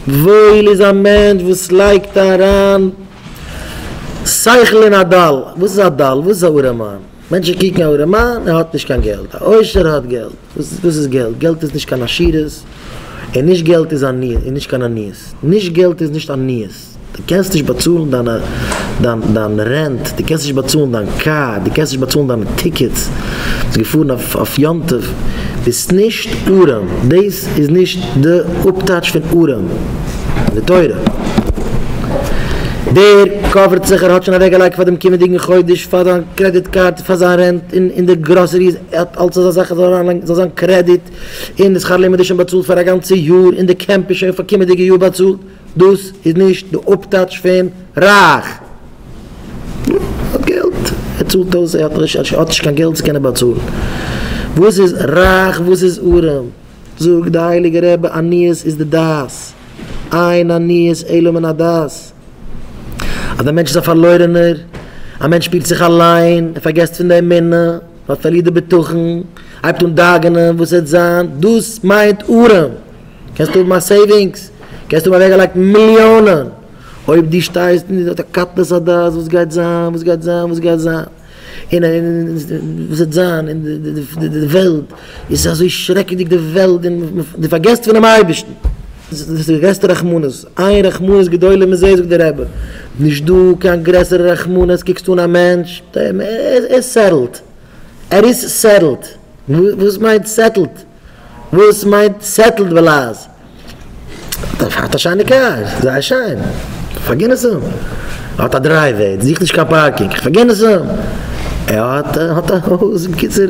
וואויל איז א מענטש וואס לייגט אריין שכל אין א דל. וואס איז א דל? וואס איז א ארעמאן? מענטשן קוקן א ארעמאן, ער האט נישט קיין געלט. א עושר האט געלט. וואס איז געלט? געלט איז נישט קיין עשירות, און נישט געלט איז עניות, און נישט קיין עניות. נישט געלט איז נישט עניות. דו קענסט נישט באצאלן דיין רענט, דו קענסט נישט באצאלן דיין קאר, דו קענסט נישט באצאלן דיינע טיקעטס, ביסט געפארן אויף יום טוב, ביסט נישט ארעם, דאס איז נישט די אפטייטש פון ארעם אין די תורה. דער קאווערט זיך, ער האט שוין אוועקגעלייגט פאר דעם קומענדיגן חודש, פאר זיין קרעדיט קארד, פאר זיין רענט, און די גראסעריס, ער האט אלץ אזא זאך עס זאל אריינלייגן, זאל זיין קרעדיט, און די שכר לימוד איז שוין באצאלט פאר א גאנצע יאר, און די קעמפ איז שוין פאר קומענדיגע יאר באצאלט. דאס איז נישט די אפטייטש פון רייך. ער האט געלט, ער צאלט אויס, ער האט נישט קיין געלט צו קענען באצאלן. וואס איז רייך וואס איז ארעם? זאגט די הייליגע רבי עניות איז די דעת, אין עניות אלא מן הדעת. אז דער מענטש איז א פארלוירענער, א מענטש שפירט זיך אליין, ער פארגעסט פון די אמונה, פארלירט די בטחון, הייבט אן דאגה'נען וואס עט זיין, דאס מיינט ארעם. קענסט האבן א סעיווינגס, קענסט האבן אוועקגעלייגט מיליאנען, אויב דו שטייסט אין די קטנות הדעת וואס גייט זיין, וואס גייט זיין, וואס גייט זיין, און וואס וועט זיין, און די וועלט איז אזוי שרעקעדיג די וועלט, און דו פארגעסט פונעם אייבערשטן, דאס איז די גרעסטע רחמנות, עיין רחמנות גדולה מזה זאגט דער רבי, נישט דא קיין גרעסערע רחמנות, קוקסט אן א מענטש, ער איז סעטעלד, ער איז סעטעלד, וואס מיינט סעטעלד? וואס מיינט סעטלד וועלאז? האט א שיינע קאר, זייער שיין, כ'פארגין עס אים. ער האט א דרייוועי, זוכט נישט קיין פארקינג, כ'פארגין עס אים. ער האט האט א הויז, בקיצור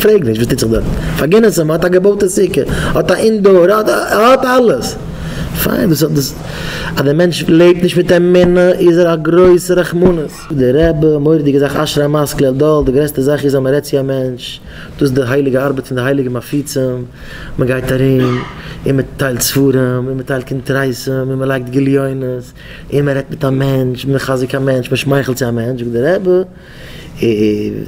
פרעג נישט וואס טוט זיך דארט, כ'פארגין עס אים. ער האט א געבויטע סוכה, ער האט א אינדאר, ער האט אלעס. פיין, דאס אז דער מענטש לעבט נישט מיט אמונה איז ער א גרויסע רחמנות. די רבי, מורא'דיגע זאך אשרי המעש כלל דל, די גרעסטע זאך איז אז מען רעדט צו א מענטש, דאס איז די הייליגע ארבעט פון די הייליגע מפיצים, מען גייט ארום און מען טיילט ספרים און מען טיילט קונטרסים און מען לייגט גליונות און מען רעדט מיט א מענטש, מען מחזק א מענטש, מען שמייכלט צו א מענטש, זאגט די רבי,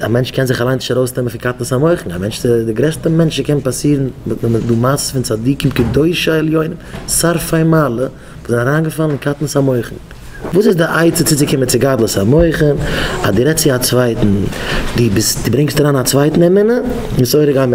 א מענטש קען זיך אליין נישט ארויסנעמען פון קטנות המוחין, א מענטש איז די גרעסטע מענטש וואס קען פאסירן, מען האט דא מעשה'ס פון צדיקים קדושי עליונים שרפי מעלה, כ'בין אריינגעפאלן אין קטנות המוחין. וואס איז די עצה צוצוקומען צו גדלות המוחין? אז דו רעדסט צו א צווייטן, דו ברענגסט אריין א צווייטן אמונה, מסורה גם.